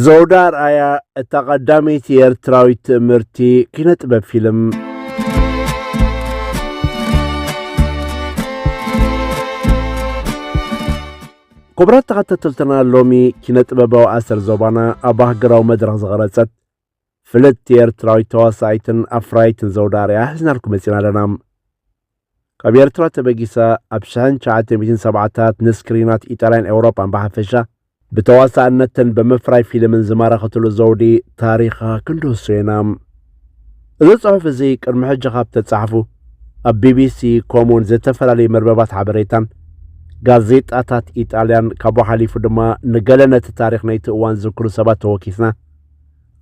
ዘውዳ ኣርኣያ እታ ቀዳመይቲ ኤርትራዊት ትእምርቲ ኪነ ጥበብ ፊልም። ክቡራት ተኸታተልትና ሎሚ ኪነ ጥበባዊ ኣሰር ዞባና ኣብ ኣህገራዊ መድረኽ ዝቐረጸት ፍልጥቲ ኤርትራዊት ተዋሳኢትን ኣፍራይትን ዘውዳ ኣርያ ሕዝናልኩ መጺና ኣለና። ካብ ኤርትራ ተበጊሳ ኣብ ሽሕን ትሽዓተ ሚእትን ሰብዓታት ንስክሪናት ኢጣልያን ኤውሮጳን ብሓፈሻ ብተዋሳእነትን ብምፍራይ ፊልምን ዝማረኸትሉ ዘውዲ ታሪኻ ክንድህሶ ኢና። እዚ ጽሑፍ እዚ ቅድሚ ሕጂ ካብ ተጻሕፉ ኣብ ቢቢሲ ከምኡውን ዝተፈላለዩ መርበባት ሓበሬታን ጋዜጣታት ኢጣልያን ካብኡ ሓሊፉ ድማ ንገለ ነቲ ታሪኽ ናይቲ እዋን ዝዝክሩ ሰባት ተወኪስና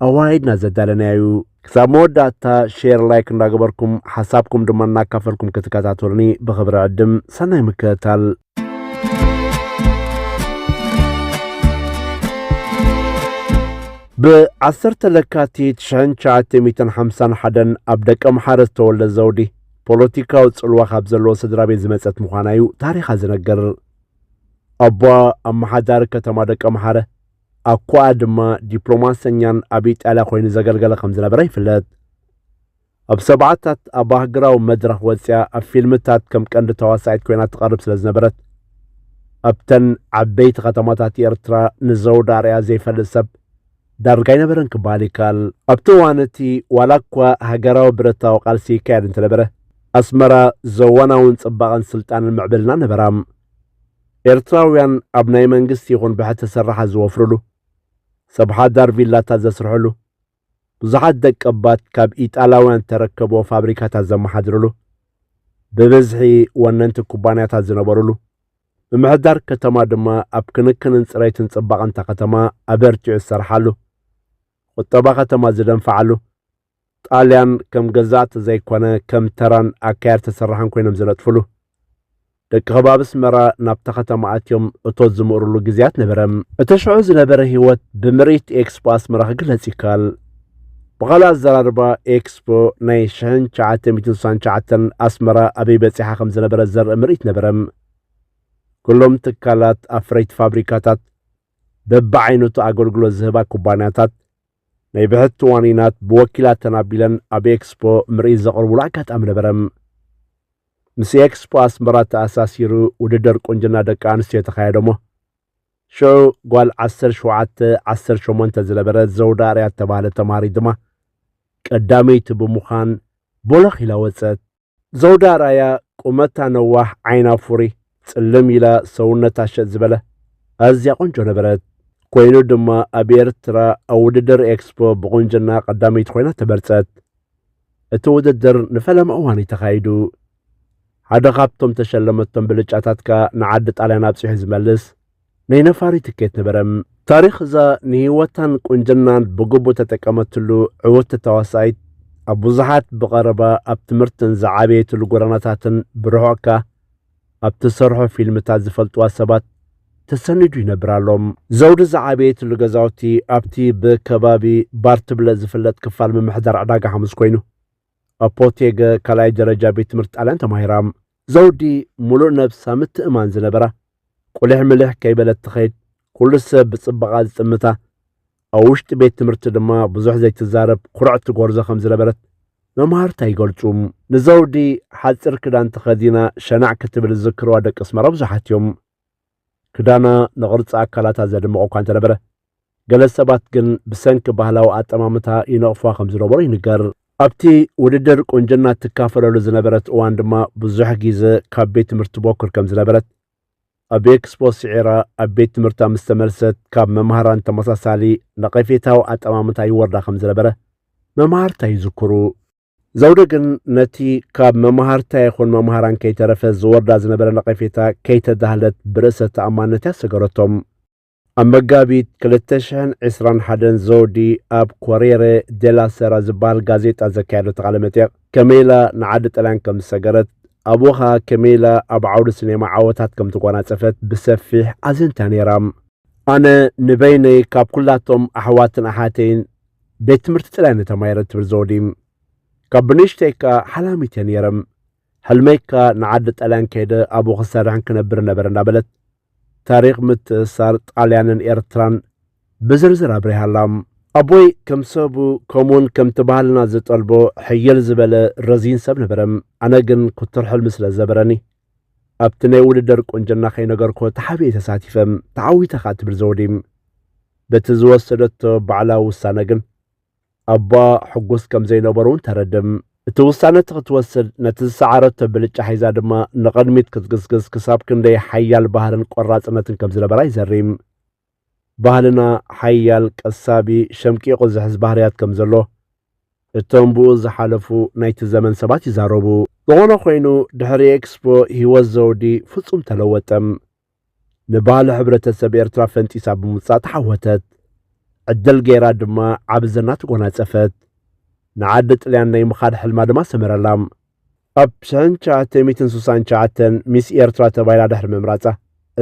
ኣዋሂድና ዘዳለናዩ ክሳብ መወዳእታ ሼር ላይክ እንዳገበርኩም ሓሳብኩም ድማ እናካፈልኩም ክትከታተሉኒ ብክብሪ ዕድም ሰናይ ምክትታል ብዓሰርተ ለካቲት ሽሕን ትሽዓተ ሚእትን ሓምሳን ሓደን ኣብ ደቂ ኣምሓረ ዝተወልደ ዘውዲ ፖለቲካዊ ጽልዋ ካብ ዘለዎ ስድራ ቤት ዝመጸት ምዃና እዩ ታሪኻ ዝነገር ኣቦ ኣመሓዳሪ ከተማ ደቂ ኣምሓረ ኣኳኣ ድማ ዲፕሎማሰኛን ኣብ ኢጣልያ ኮይኑ ዘገልገለ ከም ዝነበረ ይፍለጥ። ኣብ ሰብዓታት ኣብ ሃገራዊ መድረኽ ወጺኣ ኣብ ፊልምታት ከም ቀንዲ ተዋሳኢት ኮይና ትቐርብ ስለ ዝነበረት ኣብተን ዓበይቲ ከተማታት ኤርትራ ንዘውዲ ኣርኣያ ዘይፈልጥ ሰብ ዳርጋ ኣይነበረን ክበሃል ይከኣል። ኣብቲ እዋን እቲ ዋላ እኳ ሃገራዊ ብረታዊ ቃልሲ ይካየድ እንተነበረ ኣስመራ ዘዋናውን ጽባቐን ስልጣንን ምዕብልና ነበራ። ኤርትራውያን ኣብ ናይ መንግስቲ ይኹን ብሕቲ ሰራሓ ዝወፍርሉ፣ ሰብ ሓዳር ቪላታት ዘስርሕሉ፣ ብዙሓት ደቀባት ካብ ኢጣላውያን ዝተረከብዎ ፋብሪካታት ዘመሓድርሉ፣ ብብዝሒ ወነንቲ ኩባንያታት ዝነበርሉ፣ ምምሕዳር ከተማ ድማ ኣብ ክንክንን ጽሬትን ጽባቐንታ ከተማ ኣበርቲዑ ዝሰርሓሉ፣ ቁጠባ ከተማ ዝደንፍዓሉ፣ ጣልያን ከም ገዛእቲ ዘይኮነ ከም ተራን ኣካየድቲ ሰራሕን ኮይኖም ዝነጥፍሉ ደቂ ከባቢ ኣስመራ ናብታ ከተማ ኣትዮም እቶት ዝምእርሉ ግዜያት ነበረ። እቲ ሽዑ ዝነበረ ህይወት ብምርኢት ኤክስፖ ኣስመራ ክግለጽ ይከኣል። ብኻልእ ኣዘራርባ ኤክስፖ ናይ ሽሕን ትሽዓተ ሚእትን ስሳን ትሽዓተን ኣስመራ ኣበይ በጺሓ ከም ዝነበረ ዘርኢ ምርኢት ነበረ። ኩሎም ትካላት ኣፍረይቲ ፋብሪካታት፣ በብዓይነቱ ኣገልግሎት ዝህባ ኩባንያታት፣ ናይ ብሕቲ ዋኒናት ብወኪላተን ኣቢለን ኣብ ኤክስፖ ምርኢት ዘቕርቡሉ ኣጋጣሚ ነበረ። ምስ ኤክስፖ ኣስመራ ተኣሳሲሩ ውድድር ቁንጅና ደቂ ኣንስትዮ ተኻየደሞ ሽዑ ጓል 17 18 ዝነበረ ዘውዳ ኣርያ እተባህለ ተማሃሪት ድማ ቀዳመይቲ ብምዃን ቦሎኽ ኢላ ወጸት። ዘውዲ ኣርኣያ ቁመታ ነዋሕ ዓይና ፉሪ ጽልም ኢላ ሰውነታ ሸጥ ዝበለ ኣዝያ ቆንጆ ነበረት። ኮይኑ ድማ ኣብ ኤርትራ ኣብ ውድድር ኤክስፖ ብቑንጅና ቀዳመይቲ ኮይና ተመርጸት። እቲ ውድድር ንፈለማ እዋን እዩ ተኻይዱ። ሓደ ካብቶም ተሸለመቶም ብልጫታት ከኣ ንዓዲ ጣልያን ኣብጺሑ ዝመልስ ናይ ነፋሪ ትኬት ነበረ። ታሪኽ እዛ ንህይወታን ቁንጅናን ብግቡእ ተጠቀመትሉ ዕውቲ ተዋሳኢት ኣብ ብዙሓት ብቐረባ ኣብ ትምህርትን ዝዓበየትሉ ጎደናታትን ብርሑቕ ከኣ ኣብ ትሰርሖ ፊልምታት ዝፈልጥዋ ሰባት ተሰኒዱ ይነብር ኣሎ። ዘውዲ ዝዓበየትሉ ገዛውቲ ኣብቲ ብከባቢ ባርትብለ ዝፍለጥ ክፋል ምምሕዳር ዕዳጋ ሓሙስ ኮይኑ፣ ኣብ ፖቴገ ካልኣይ ደረጃ ቤት ትምህርቲ ጣልያን ተማሂራ። ዘውዲ ሙሉእ ነብሳ ምትእማን ዝነበራ ቁሊሕ ምሊሕ ከይበለት ትኸይድ ኩሉ ሰብ ብጽባቓ ዝጥምታ ኣብ ውሽጢ ቤት ትምህርቲ ድማ ብዙሕ ዘይትዛረብ ኩርዕቲ ጎርዞ ከም ዝነበረት መማህርታ ይገልጹ። ንዘውዲ ሓጺር ክዳን ተኸዲና ሸናዕ ክትብል ዝዝክርዋ ደቂ ኣስመራ ብዙሓት እዮም። ክዳና ንቕርጺ ኣካላታ ዘድምቕ እኳ እንተነበረ ገለ ሰባት ግን ብሰንኪ ባህላዊ ኣጠማምታ ይነቕፏ ከም ዝነበሩ ይንገር። ኣብቲ ውድድር ቁንጅና እትካፈለሉ ዝነበረት እዋን ድማ ብዙሕ ግዜ ካብ ቤት ትምህርቲ ቦክር ከም ዝነበረት ኣብ ኤክስፖ ስዒራ ኣብ ቤት ትምህርታ ምስ ተመልሰት ካብ መምሃራን ተመሳሳሊ ነቐፌታዊ ኣጠማምታ ይወርዳ ከም ዝነበረ መምሃርታ ይዝክሩ። ዘውደ ግን ነቲ ካብ መማህርታ ይኹን መማህራን ከይተረፈ ዝወርዳ ዝነበረ ነቐፌታ ከይተዳህለት ብርእሰ ተኣማንነት እያ ሰገረቶም። ኣብ መጋቢት 2021 ዘውዲ ኣብ ኮሬረ ዴላ ሰራ ዝበሃል ጋዜጣ ዘካየደቶ ቃለ መጠየቕ ከመይላ ንዓዲ ጠልያን ከም ዝሰገረት ኣብኡ ኸኣ ከመይላ ኣብ ዓውዲ ሲኔማ ዓወታት ከም ተጓናጸፈት ብሰፊሕ ኣዘንትያ ነይራ። ኣነ ንበይነይ ካብ ኩላቶም ኣሕዋትን ኣሓተይን ቤት ትምህርቲ ጥራይ ንተማይረ ትብል ዘውዲ ካብ ብንእሽተይ ከኣ ሓላሚት እየ ነይረ ሕልመይ ከኣ ንዓዲ ጣልያን ከይደ ኣብኡ ክሰርሕን ክነብር ነበረ እንዳበለት ታሪኽ ምትእስሳር ጣልያንን ኤርትራን ብዝርዝር ኣብሪሃ ኣላ ኣቦይ ከም ሰቡ ከምኡውን ከምቲ ባህልና ዝጠልቦ ሕይል ዝበለ ረዚን ሰብ ነበረ ኣነ ግን ኩቱር ሕልሚ ስለ ዘበረኒ ኣብቲ ናይ ውድድር ቁንጅና ከይነገርኩ ተሓቢኤ ተሳቲፈ ተዓዊተ ከኣ ትብል ዘውዲ። በቲ ዝወሰደቶ ባዕላዊ ውሳነ ግን ኣቦኣ ሕጉስ ከም ዘይነበሩ እውን ተረድእ። እቲ ውሳነ እቲ ክትወስድ ነቲ ዝሰዓረቶ ብልጫ ሒዛ ድማ ንቕድሚት ክትግስግስ ክሳብ ክንደይ ሓያል ባህርን ቆራጽነትን ከም ዝነበራ ይዘሪ። ባህልና ሓያል፣ ቀሳቢ፣ ሸምቂቑ ዝሕዝ ባህርያት ከም ዘሎ እቶም ብኡ ዝሓለፉ ናይቲ ዘመን ሰባት ይዛረቡ። ዝኾነ ኾይኑ ድሕሪ ኤክስፖ ህይወት ዘውዲ ፍጹም ተለወጠም። ንባህሊ ሕብረተሰብ ኤርትራ ፈንጢሳ ብምውጻእ ተዓወተት። ዕድል ገይራ ድማ ዓቢ ዝና ተጎናጸፈት። ንዓዲ ጥልያን ናይ ምኻድ ሕልማ ድማ ሰመረላ። ኣብ ሰን ትሽዓተ ሚእትን ስሳን ትሽዓተን ሚስ ኤርትራ ተባሂላ ድሕሪ ምምራጻ፣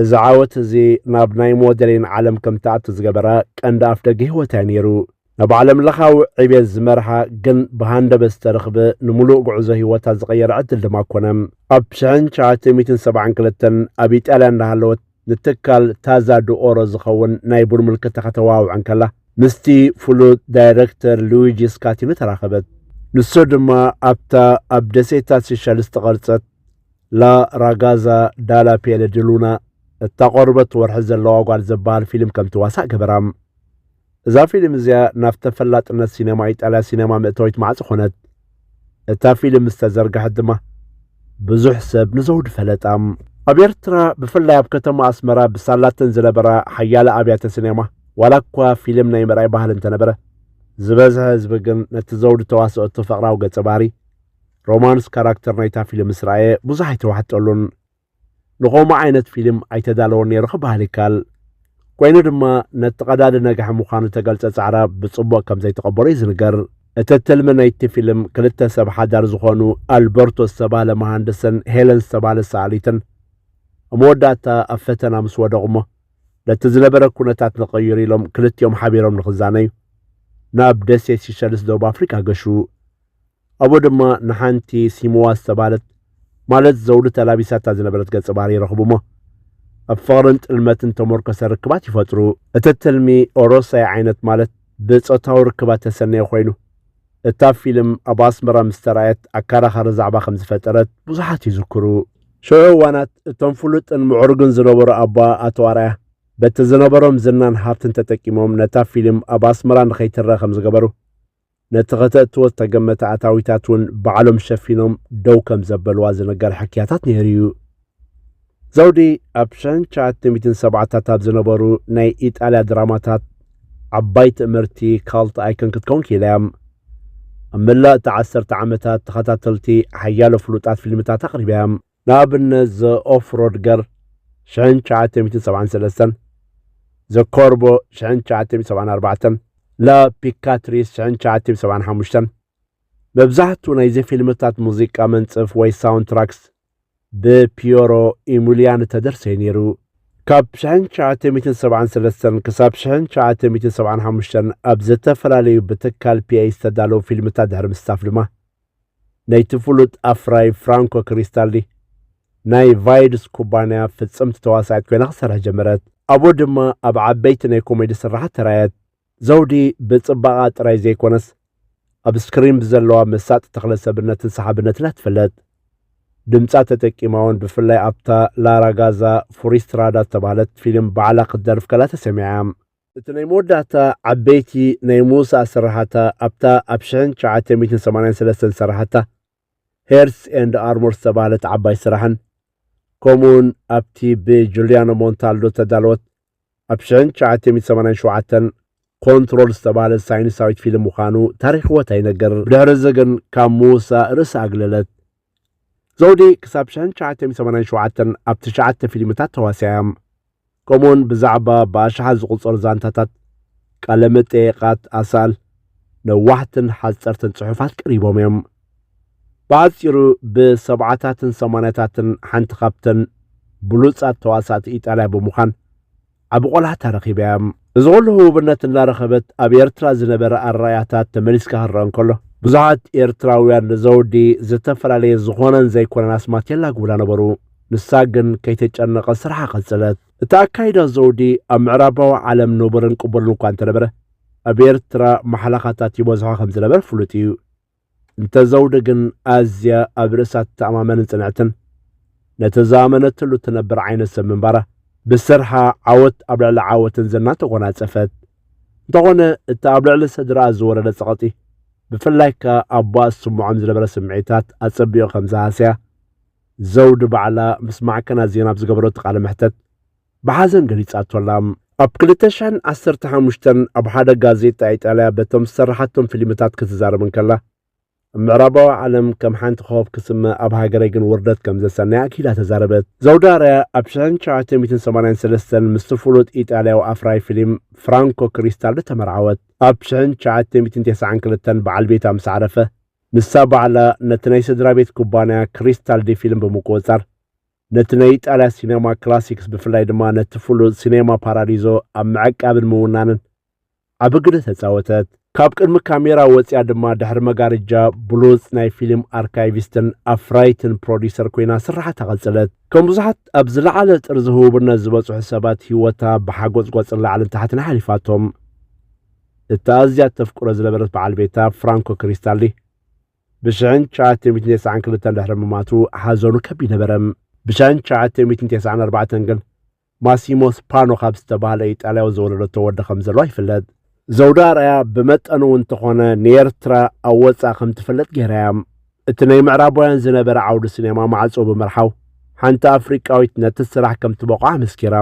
እዚ ዓወት እዚ ናብ ናይ ሞደሊን ዓለም ከም ትኣቱ ዝገበራ ቀንዲ ኣፍደገ ህይወታ'ዩ ነይሩ። ናብ ዓለምለኻዊ ዕብየት ዝመርሓ ግን ብሃንደበት ዝተረኽበ ንምሉእ ጉዕዞ ህይወታ ዝቐየረ ዕድል ድማ ኮነ። ኣብ ሽሕን ትሽዓተ ሚእትን ሰብዓን ክልተን ኣብ ኢጣልያ እንዳሃለወት፣ ንትካል ታዛ ድኦሮ ዝኸውን ናይ ቡን ምልክታ ከተዋውዕ እንከላ፣ ምስቲ ፍሉጥ ዳይረክተር ሉዊጂ ስካቲኖ ተራኸበት። ንሱ ድማ ኣብታ ኣብ ደሴታት ሲሸል ዝተቐርጸት ላ ራጋዛ ዳላ ፔለ ዲ ሉና እታ ቆርበት ወርሒ ዘለዋ ጓል ዘበሃል ፊልም ከም ትዋሳእ ገበራ። እዛ ፊልም እዚኣ ናብ ተፈላጥነት ሲነማ ኢጣልያ ሲነማ መእተዊት ማዕጾ ኮነት። እታ ፊልም ምስ ተዘርግሐት ድማ ብዙሕ ሰብ ንዘውዲ ፈለጣ። ኣብ ኤርትራ ብፍላይ ኣብ ከተማ ኣስመራ ብሳላተን ዝነበራ ሓያለ ኣብያተ ሲነማ ዋላ እኳ ፊልም ናይ ምርኣይ ባህሊ እንተነበረ ዝበዝሐ ህዝቢ ግን ነቲ ዘውዲ ተዋሰኦቶ ፍቕራዊ ገጸ ባህሪ፣ ሮማንስ ካራክተር፣ ናይታ ፊልም ምስ ረኣየ ብዙሕ ኣይተዋሕጠሉን። ንኸምኡ ዓይነት ፊልም ኣይተዳለወን ነይሩ ክበሃል ይከኣል። ኮይኑ ድማ ነቲ ቀዳዲ ነግሒ ምዃኑ እተገልጸ ጻዕራ ብጽቡቕ ከም ዘይተቐበሎ እዩ ዝንገር። እቲ ትልሚ ናይቲ ፊልም ክልተ ሰብ ሓዳር ዝኾኑ ኣልበርቶ ዝተባህለ መሃንድስን ሄለን ዝተባህለት ሰኣሊትን ኣብ መወዳእታ ኣብ ፈተና ምስ ወደቑ እሞ ነቲ ዝነበረ ኩነታት ንቕይር ኢሎም ክልቲኦም ሓቢሮም ንክዛነዩ ናብ ደሴት ሲሸልስ ደቡብ ኣፍሪቃ ገሹ። ኣብኡ ድማ ንሓንቲ ሲምዋ ዝተባህለት ማለት ዘውዲ ተላቢሳታ ዝነበረት ገጸ ባህሪ ይረኽቡሞ ኣብ ፍቕርን ጥልመትን ተሞርከሰ ርክባት ይፈጥሩ። እቲ ትልሚ ኦሮሳይ ዓይነት ማለት ብጾታዊ ርክባት ተሰነየ ኮይኑ እታ ፊልም ኣብ ኣስመራ ምስ ተራእየት ኣከራኻሪ ዛዕባ ከም ዝፈጠረት ብዙሓት ይዝክሩ። ሽዑ እዋናት እቶም ፍሉጥን ምዕሩግን ዝነበሩ ኣቦኣ ኣቶ ኣርኣያ በቲ ዝነበሮም ዝናን ሃብትን ተጠቂሞም ነታ ፊልም ኣብ ኣስመራ ንኸይትረኣ ከም ዝገበሩ ነቲ ከተእትዎ ዝተገመተ ኣታዊታት እውን ባዕሎም ሸፊኖም ደው ከም ዘበልዋ ዝነገር ሕክያታት ነይሩ እዩ። ዘውዲ ኣብ ሸን ሸዓተ ሚእትን ሰብዓታት ኣብ ዝነበሩ ናይ ኢጣልያ ድራማታት ዓባይ ትእምርቲ ካልት ኣይከን ክትከውን ክኢላ እያ። ኣብ መላእ እቲ ዓሰርተ ዓመታት ተኸታተልቲ ሓያሎ ፍሉጣት ፊልምታት ኣቕሪባ እያ። ንኣብነት ዘ ኦፍ ሮድ ገር፣ ሽሕን ትሽዓተ ሚእትን ሰብዓን ሰለስተን፣ ዘ ኮርቦ፣ ሽሕን ትሽዓተ ሚእትን ሰብዓን ኣርባዕተን፣ ላ ፒካትሪስ፣ ሽሕን ትሽዓተ ሚእትን ሰብዓን ሓሙሽተን። መብዛሕትኡ ናይዚ ፊልምታት ሙዚቃ መንጽፍ ወይ ሳውንትራክስ ብፒዮሮ ኢሙልያኒ እተደርሰዩ ነይሩ። ካብ ሽሕን ትሽዓተ ሚእትን ሰብዓን ሰለስተን ክሳብ ሽሕን ትሽዓተ ሚእትን ሰብዓን ሓሙሽተን ኣብ ዝተፈላለዩ ብትካል ፒኤይ ዝተዳለዉ ፊልምታት ድሕሪ ምስታፍ ድማ፣ ናይቲ ፍሉጥ ኣፍራዪ ፍራንኮ ክሪስታልዲ ናይ ቫይድስ ኩባንያ ፍጽምቲ ተዋሳኢት ኮይና ክትሰርሕ ጀመረት። ኣብኡ ድማ ኣብ ዓበይቲ ናይ ኮሜዲ ስርሓት ተራእየት። ዘውዲ ብጽባቐኣ ጥራይ ዘይኰነስ ኣብ ስክሪን ብዘለዋ መሳጢ ተኽለ ሰብነትን ሰሓብነትን እያ ትፍለጥ። ድምጻ ተጠቂማ እውን ብፍላይ ኣብታ ላራጋዛ ፉሪስትራዳ ዝተባህለት ፊልም ባዕላ ክትደርፍ ከላ ተሰሚዓ እያ። እቲ ናይ መወዳእታ ዓበይቲ ናይ ምውሳእ ስርሓታ ኣብታ ኣብ ሽሕን ትሽዓተ ሚእትን ሰማንያን ሰለስተን ዝሰራሓታ ሄርትስ ኤንድ ኣርሞር ዝተባህለት ዓባይ ስራሕን ከምኡውን ኣብቲ ብጁልያኖ ሞንታልዶ እተዳለወት ኣብ ሽሕን ትሽዓተ ሚእትን ሰማንያን ሸውዓተን ኮንትሮል ዝተባህለት ሳይንሳዊት ፊልም ምዃኑ ታሪኽወት ኣይነገር። ብድሕርዚ ግን ካብ ምውሳእ ርእሳ ኣግለለት። ዘውዲ ክሳብ ሽሕን ትሽዓተ ሚእቲ ሰማንያን ሸውዓተን ኣብ ትሽዓተ ፊልምታት ተዋሲኣ እያ። ከምኡውን ብዛዕባ ብኣሽሓት ዝቑጸሩ ዛንታታት፣ ቃለ መጠየቓት፣ ኣሳእል፣ ነዋሕትን ሓጸርትን ጽሑፋት ቀሪቦም እዮም። ብሓጺሩ ብሰብዓታትን ሰማንያታትን ሓንቲ ካብተን ብሉጻት ተዋሳእቲ ኢጣልያ ብምዃን ዓቢ ቆልዓ ተረኺባያ። እዚ ኹሉ ህቡብነት እናረኸበት ኣብ ኤርትራ ዝነበረ ኣረኣእያታት ተመሊስካ ክረኣ እንከሎ፣ ብዙሓት ኤርትራውያን ንዘውዲ ዝተፈላለየ ዝኾነን ዘይኮነን ኣስማት የላግቡላ ነበሩ። ንሳ ግን ከይተጨነቐት ስርሓ ቀጸለት። እቲ ኣካይዳ ዘውዲ ኣብ ምዕራባዊ ዓለም ንቡርን ቅቡልን እኳ እንተነበረ፣ ኣብ ኤርትራ ማሕለኻታት ይበዝሖ ከም ዝነበረ ፍሉጥ እዩ። እንተ ዘውዲ ግን ኣዝያ ኣብ ርእሳ ትተኣማመንን ጽንዕትን ነቲ ዝኣመነትሉ እትነብር ዓይነት ሰብ ምንባራ ብስርሓ ዓወት ኣብ ልዕሊ ዓወትን ዝናን ተጎናጸፈት። እንተኾነ እቲ ኣብ ልዕሊ ስድራኣ ዝወረደ ጸቕጢ ብፍላይ ከኣ ኣቦኣ ዝስምዖም ዝነበረ ስምዒታት ኣጸቢቑ ከም ዝሃሰያ ዘውዲ ባዕላ ምስ ማዕከናት ዜና ኣብ ዝገበረቶ ቃለ መሕተት ብሓዘን ገሊጻቶ'ላ። ኣብ ክልተ ሽሕን ዓሰርተ ሓሙሽተን ኣብ ሓደ ጋዜጣ ኢጣልያ በቶም ዝሰርሓቶም ፊልምታት ክትዛረብ እንከላ፣ ኣብ ምዕራባዊ ዓለም ከም ሓንቲ ኮኾብ ክስመ ኣብ ሃገረይ ግን ውርደት ከም ዘሰንያ ኣክኢላ ተዛረበት። ዘውዲ ኣርኣያ ኣብ ሽሕን ትሽዓተ ሚእትን ሰማንያን ሰለስተን ምስቲ ፍሉጥ ኢጣልያዊ ኣፍራዪ ፊልም ፍራንኮ ክሪስታልዲ ተመርዓወት። ኣብ ሽሕን ትሽዓተ ሚእትን ተስዓን ክልተን በዓል ቤታ ምስ ዓረፈ፣ ንሳ ባዕላ ነቲ ናይ ስድራቤት ኩባንያ ክሪስታልዲ ፊልም ብምቁጽጻር፣ ነቲ ናይ ኢጣልያ ሲነማ ክላሲክስ ብፍላይ ድማ ነቲ ፍሉጥ ሲነማ ፓራዲዞ ኣብ ምዕቃብን ምውናንን ዓቢ ግደ ተጻወተት። ካብ ቅድሚ ካሜራ ወጺኣ ድማ ድሕሪ መጋርጃ ብሉጽ ናይ ፊልም ኣርካይቪስትን ኣፍራይትን ፕሮዲሰር ኮይና ስርሓታ ቀጸለት። ከም ብዙሓት ኣብ ዝለዓለ ጥርዚ ህቡብነት ዝበጽሑ ሰባት ህይወታ ብሓጎጽጎጽን ላዕልን ታሕትን ሓሊፋቶም። እታ ኣዝያ እተፍቅሮ ዝነበረት በዓል ቤታ ፍራንኮ ክሪስታሊ ብሽሕን ትሽዓተ ሚእትን ተስዓን ክልተን ድሕሪ ምሟቱ ሓዘኑ ከቢድ ነበረ። ብሽሕን ትሽዓተ ሚእትን ተስዓን ኣርባዕተን ግን ማሲሞ ስፓኖ ካብ ዝተባህለ ኢጣልያዊ ዝወለደቶ ወዲ ከም ዘለዋ ይፍለጥ። ዘውዲ ኣርኣያ ብመጠኑ እውን እንተኾነ ንኤርትራ ኣብ ወጻኢ ከም ትፍለጥ ገይራ እያ። እቲ ናይ ምዕራባውያን ዝነበረ ዓውዲ ሲኔማ ማዕጾኡ ብምርሓው ሓንቲ ኣፍሪቃዊት ነቲ ስራሕ ከም ትበቕዖ ኣመስኪራ።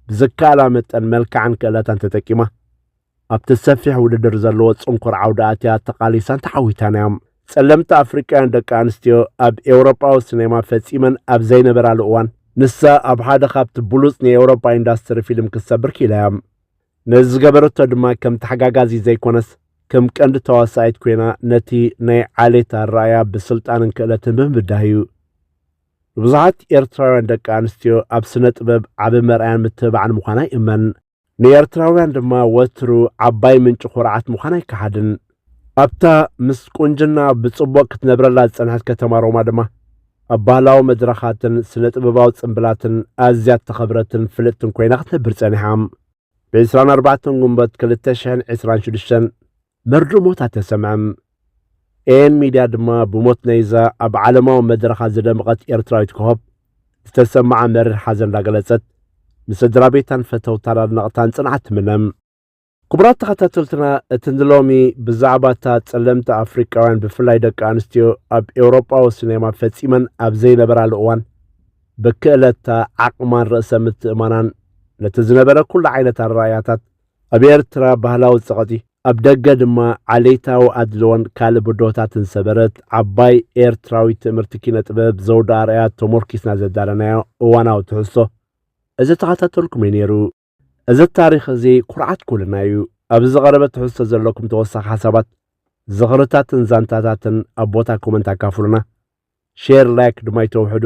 ብዝከኣላ መጠን መልክዓን ክእለታን ተጠቂማ ኣብቲ ሰፊሕ ውድድር ዘለዎ ጽንኩር ዓውዲ ኣትያ ተቓሊሳን ተዓዊታን እያ። ጸለምቲ ኣፍሪቃውያን ደቂ ኣንስትዮ ኣብ ኤውሮጳዊ ሲኔማ ፈጺመን ኣብ ዘይነበራሉ እዋን፣ ንሳ ኣብ ሓደ ካብቲ ብሉጽ ናይ ኤውሮጳ ኢንዳስትሪ ፊልም ክትሰብር ክኢላ እያ። ነዚ ዝገበረቶ ድማ ከም ተሓጋጋዚት ዘይኮነስ ከም ቀንዲ ተዋሳኢት ኮይና ነቲ ናይ ዓሌት ኣረኣእያ ብስልጣንን ክእለትን ብምብዳህ እዩ። ንብዙሓት ኤርትራውያን ደቂ ኣንስትዮ ኣብ ስነ ጥበብ ዓቢ መርኣያን ምትብባዕን ምዃና ይእመን። ንኤርትራውያን ድማ ወትሩ ዓባይ ምንጪ ኩርዓት ምዃን ኣይከሓድን። ኣብታ ምስ ቁንጅና ብጽቡቕ ክትነብረላ ዝጸንሐት ከተማ ሮማ ድማ ኣብ ባህላዊ መድረኻትን ስነ ጥበባዊ ጽምብላትን ኣዝያ እተኸብረትን ፍልጥትን ኮይና ክትነብር ጸኒሓ። ብ24 ጉንበት 2026 መርድእ ሞት ኣተሰምዐም። ኤኤን ሚድያ ድማ ብሞት ናይዛ ኣብ ዓለማዊ መድረኻ ዝደመቐት ኤርትራዊት ኮኾብ ዝተሰመዓ መሪር ሓዘን እንዳገለጸት ንስድራቤታን ፈተውታን ኣድነቕታን ጽንዓት ትምነም። ክቡራት ተኸታተልትና እቲ ንሎሚ ብዛዕባ እታ ጸለምቲ ኣፍሪቃውያን ብፍላይ ደቂ ኣንስትዮ ኣብ ኤውሮጳዊ ሲኔማ ፈጺመን ኣብ ዘይነበራሉ እዋን ብክእለታ ዓቕማን ርእሰ ምትእማናን ነቲ ዝነበረ ኩሉ ዓይነት ኣረኣእያታት ኣብ ኤርትራ ባህላዊ ጸቕጢ፣ ኣብ ደገ ድማ ዓሌታዊ ኣድልዎን ካልእ ብድሆታትን ዝሰበረት ዓባይ ኤርትራዊት ትእምርቲ ኪነ ጥበብ ዘውዲ ኣርኣያ ተሞርኪስና ዘዳለናዮ እዋናዊ ትሕዝቶ እዚ ተኸታተልኩም እዩ ነይሩ። እዚ ታሪኽ እዚ ኩርዓት ኩልና እዩ። ኣብዚ ዝቐረበ ትሕዝቶ ዘለኩም ተወሳኺ ሓሳባት፣ ዝኽርታትን ዛንታታትን ኣብ ቦታ ኮመንት ኣካፍሉና። ሼር ላይክ ድማ ኣይተውሕዱ።